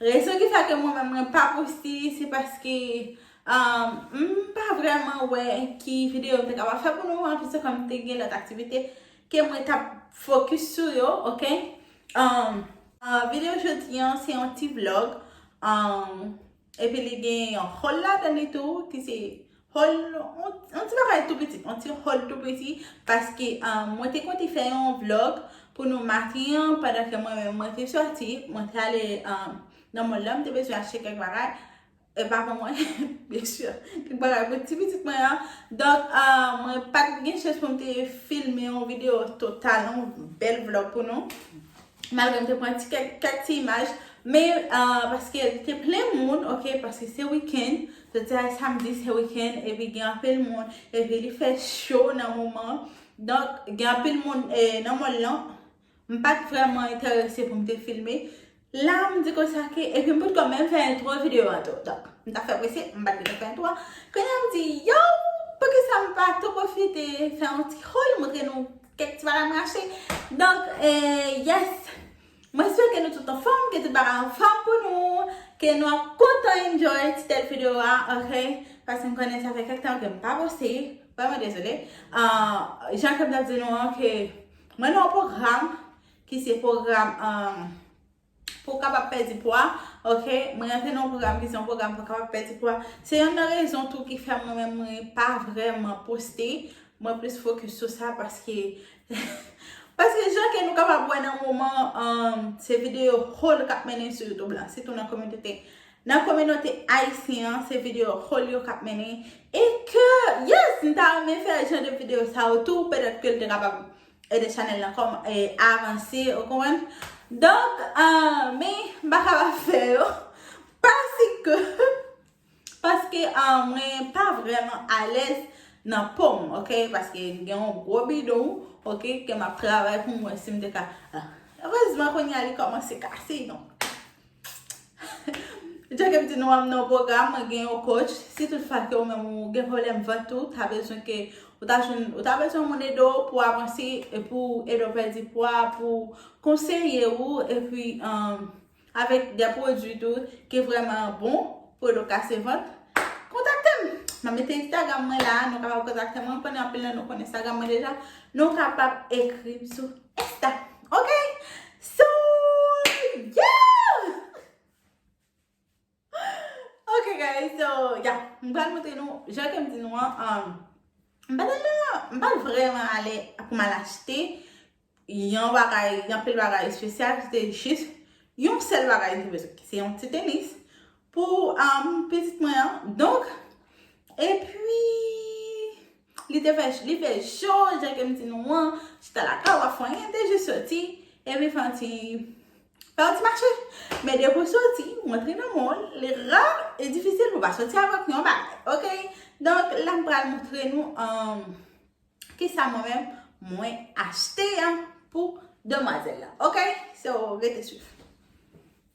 Rezon ki fè ke mwen menm mwen pa poste se paske m pa vrèman wè ki videyo m te kapab fè pou nou anplis se kòm te gen lòt aktivite ke mwen t ap fokis sou yo ok videyo jodi an se yon ti vlog epi li gen yon haul ladan li tou ki se Hall yon ti bagay tou piti, yon ti hall tou piti paske mwen te konte fè yon vlog pou nou maten an pandan ke mwen menm mwen te soti, mwen te ale nan mall la, m te bezwen achte kèk bagay e pa pou mwen byen sur, kèk bagay pou ti pitit mwen an donk mwen pa t gen chans pou m te filme yon video total, yon bèl vlog pou nou Malgre m te pran ti kèk kèk ti imaj men paske te plen moun ok paske se weekend jodi a e samedi se weekend epi gen anpil moun epi li fè cho nan moman donk gen anpil moun nan mòl lan m pat vrèman enterese pou m te filme la m di konsa ke epi m potkò menm fè entwo videyo a tou donk m ta fè prese m pat gentan fè entwo a kounya m di yow poukisa m pa tou pwofite fè yon ti hòl montre nou Kèk ti bagay m rache. Donk, yes! Mwen swete nou tout anfòm, ke tout bagay anfòm pou nou, ke nou ap kontan enjoy ti tèt video a, ok? Paske m konnen sa fè kèk tan ke m pa poste, vrèman dezole. Jan ke m t ap di nou an, ke mwen nan yon pwogram, ki se pwogram Pou w kapab pèdi pwa, ok, mwen rantre nan yon pwogram ki se yon pwogram pou w kapab pèdi pwa. Se yonn nan rezon tou ki fè mwen menm mwen pa vrèman poste, mwen plis fokis sou sa paske paske jan ke nou kapab wè nan moman an, se videyo haul k ap mennen sou YouTube la, sitou nan kominote nan kominote ayisyen an, se videyo haul yo k ap mennen e ke yes m ta renmen fè jan de videyo sa yo tou petèt ke l te kapab Ede chanel lan kom avanse ou konprann. Donk men m pa ka pa fè yo paske paske mwen pa vreman alèz nan po m ok paske m gen yon gwo bidon ok ke m ap travay pou m wè si m te ka erezman kounye a li komanse kase donk. Jan kem di nou an m nan yon pwogram mwen gen yon coach, si tout fwa ke ou menm ou gen pwoblèm vant ou, ta bezwen ke ou ta jwenn ou ta bezwen moun ede w pou avanse e pou ede w pèdi pwa, pou konseye ou epi avèk de pwodui tou ki vrèman bon pou ede w kase vant, kontakte m. M ap mete Instagram mwen la, nou kapab kontakte mwen, m konnen anpil nan nou konnen Instagram mwen deja, nou kapab ekri m sou. Esta ok So yeah Ok guys so yeah M pral montre nou jan ke m di nou an M pa tèlman M pa vrèman ale pou m al achte yon bagay yon pil bagay espesyal se jis yon sèl bagay m bezwen ki se yon ti tenis pou pitit mwen an donk epi Li te fè li fè cho jan ke m di nou an, chita lakay wa fanyen te jis soti epi fè yon ti fè yon ti mache. Men depi w soti, ou antre nan mall, li ra e difisil pou w pa soti avèk yon bagay. Ok, donk la m pral montre nou kisa mwen menm mwen achte pou demwazèl la. Ok, so rete swiv.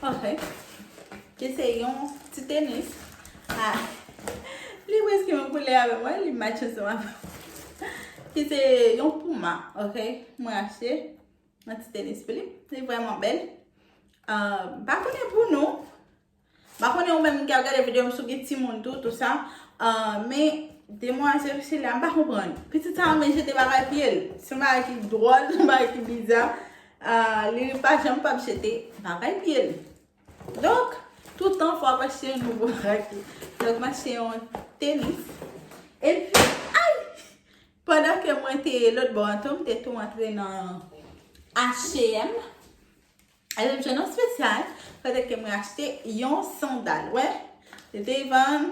Pòfè, ki se yon ti tenis. Ha! Li preske menm koulè avèm wè, li match ansanm avèm. Ki se yon pouma, ok? Mwen achte yon ti tenis pou li. Li vrèman bèl. Pa konnen pou nou, Mpa konnen ou menm ki ap gade video m si w gen timoun tou tout sa men demwazel sila mpa konprann pitit sa renmen jete bagay piye l se yon bagay ki dwòl yon bagay ki biza li pa janm pap jete bagay piye l donk tout tan fò ap achte yon nouvo bagay pou l donk m achte yon tenis epi ayy pandan ke mwen te lòtbò an tou m te tou antre nan H&M Alè m jwenn yon spesyal, petèt ke mwen achte yon sandal. Wè, li te vann,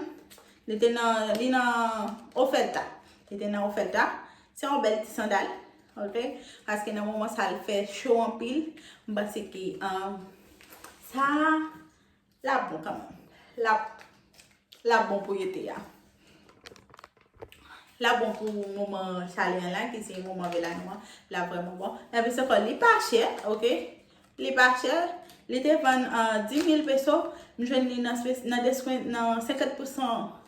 li te nan, li nan oferta. Li te nan oferta. Se yon bèl ti sandal. Ok? Paske nan moman sa li fè cho anpil. M panse ke, sa, Lap bon kanmèm. Lap Lap bon pou ete a. Lap bon pou moman chale an la ki se moman vela nou an. Lap vreman bon. Nan plis ankò li pa chè. Ok. Li pa chè. Li te vann an 10.000 peso. M jwenn li nan 50%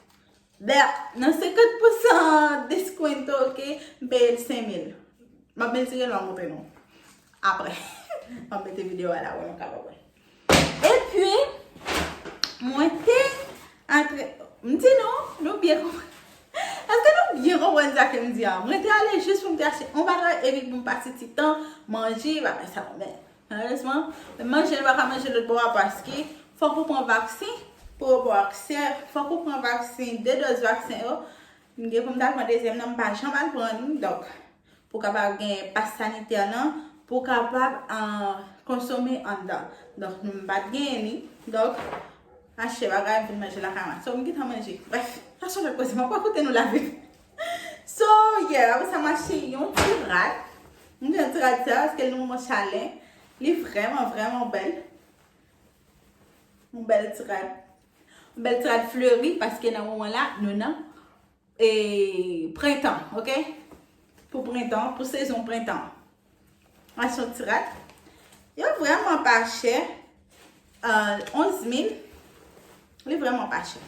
Berk, nan 50 pousan deskwento ok, m peye l 5000. M ap mezire l m ap montre nou aprè. M ap mete videyo a la pou nou kapab wè. Epi, mwen te antre, m di nou, nou byen konprann. Èske nou byen konprann sa ke m di a? Mwen te ale jis pou m te achte yon bagay epi pou m pase ti tan manje bagay sa yo men. Malerezman, manje yo pa ka manje lòt bò a paske fòk ou pran vaksen pou yo ba w aksè, fòk ou pran vaksen, 2 dòz vaksen yo. M gen pou m ta pran dezyèm nan, m pa janm al pran li. Donk, pou w kapab gen pas sanitè nan, pou w kapab konsome anndan. Donk, m pa t genyen li. Donk, achte bagay m vin manje lakay mwen. So, m gen tan manje. Brèf, sa chanje koze. M ap rakonte nou lavi m. So yeah apre sa m achte yon ti rad. M gen ti rad sa paske l nan moman chalè. Li vrèman vrèman bèl. Yon bèl ti rad. Yon bèl ti rad fleri paske nan moman la nou nan prentan ok. Pou prentan, pou sezon prentan. Masyon tirat yo vrèman pa chè. 11 mil. Li vrèman pa chè.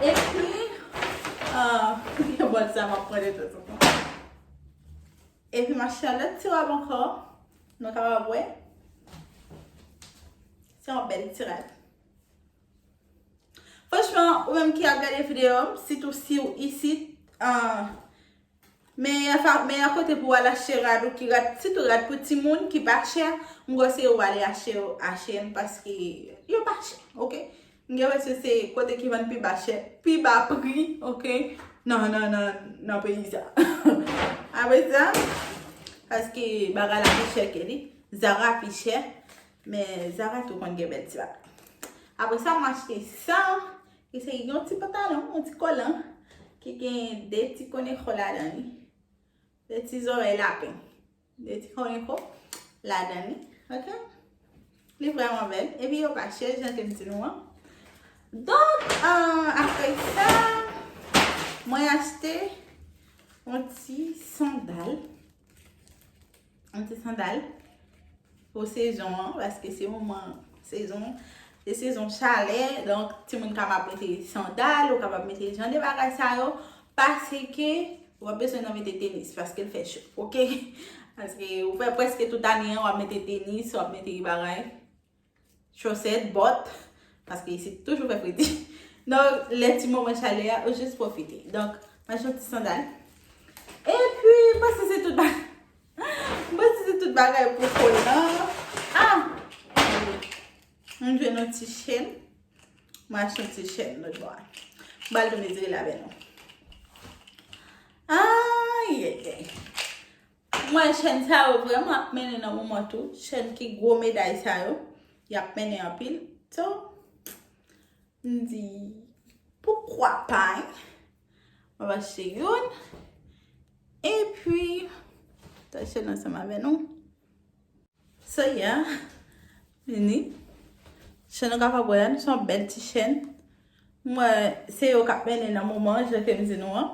E pi. Yon bòt sa mwen pwè de tout. E pi masyon lòt tirat mwen kò. Nou ka wap wè. Se yon bèl tirat. Franchman, ou menm ki ap gade videyo, sitou si ou isit, an, Meyè fa meyè kote pou al achte rad ou ki rad sitou rad pou timoun ki pa chè m konseye ou ale achte yo a shein paske yo pa chè ok m gen presyon se kote ki vann pi ba chè pi ba pri ok nan nan nan nan peyi sa apre sa paske bagay la pi chè ke li zara pi chè men zara tou konn gen bèl ti bagay apre sa m achte sa Ki se yon ti pantalon, yon ti kolan ki gen 2 ti koneko ladan li. 2 ti zorèy lapen. 2 ti koneko ladan li. Ok? Li vreman bel. E pi yo pa chè, jan ke m di nou an. Donk, apre sa, mwen achte yon ti sandal. Yon ti sandal pou sezon an, paske se moman sezon, se sezon chalè, donk ti moun kapab mete sandal, yo kapab mete jan de bagay sa yo, paske w ap bezwen nan mete tenis, paske l fè cho, ok? Paske ou fè preske tout ane an, w ap mete tenis, w ap mete bagay. Chosèt, bòt, paske isit toujou fè fredi. Donk, lè ti moman chalè a, ou jis pwofite. Donk, mwen chante ti sandal. E pi, mwen panse se tout bagay. Mwen panse se tout bagay pou kòl lan. A! Mwen jwenn yon ti chèn. Mwen achte yon ti chèn lòt bò a. Mwen bal tou mezire l avè nou. Ayayay! Mwen chèn sa yo vrèman ap mennen nan moman tou. Chèn ki gwo meday sa yo. Y ap mennen anpil. So, m di, poukwa pa hein? Mwen va achte youn. E pi, ta chèn ansanm avè nou. So yeah. Vini. Chèn nou kapab wè an, se yon bèl ti chèn. Mwen, se yo k ap mennen nan moman, jan ke m di nou an.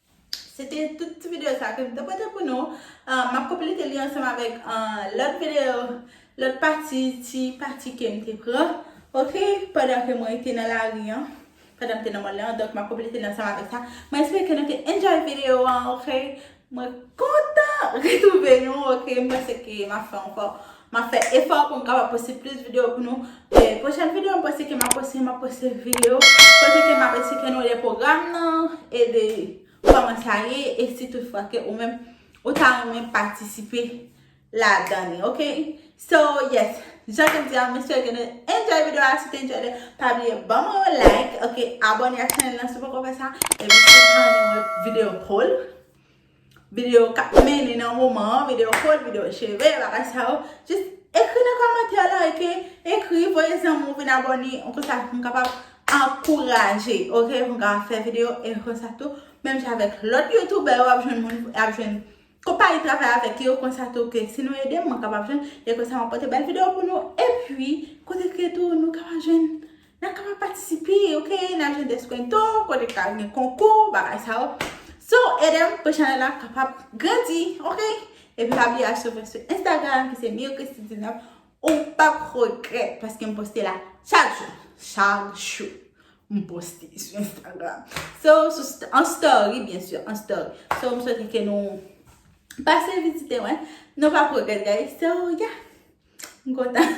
Se te tout ti videyo sa ke m te pote pou nou. M ap konplete li ansanm avèk lòt videyo, lòt pati, ti pati ke m te pran. Ok, pandan ke mwen te nan lari an, pandan m te nan mòn lan, donk m ap konplete li ansanm avèk sa. Mwen espere ke nou te enjoy videyo an, ok. Mwen kontan retwouve nou, ok. M panse ke m ap fè ankò Map fè efò pou m kapab poste plis video pou nou. Pwochèn video m panse ke map poste, map poste video kote ke map esplike nou de pwogram nan e de kòman sa ye e si tout fwa ke ou menm ou ta renmen patisipe la dan li ok. So yes, jan ke m di a m espere ke nou te enjoy video a, si w te enjoy li pa bliye ban mwen yon like ok, abòne ak chanèl lan si w poko fè sa epi si w ta renmen wè video poll. Video kap mennen nan moman an, video kod, video cheve, bagay sa yo. Jis ekri nan komantè la, ok? Ekri, voye zanmi w vin abone, an konsa pou m kapab ankouraje, ok? Pou m kapab fè video, e konsa tou, menm jan avèk lòt youtoubè yo ap jwenn moun, ap jwenn konpayi travay avèk yo, konsa tou ke si nou ede m, mwen kapab jwenn, e konsa m ap pote bèl video pou nou, epi, kote ke tou nou kapab jwenn Nan kapab patisipe ok nan ajan deskwento kote ki pral gen konkou bagay sa yo so edem pou chanel la kapab grandi ok epi pa bliye al swiv mwen sou instagram ki se mircristy 19 ou pap regrèt paske m poste la chak jou chak jou m poste sou instagram so an story byen sur an story so m swete ke nou pase vizite mwen nou pap regrèt guys so yeah m kontan.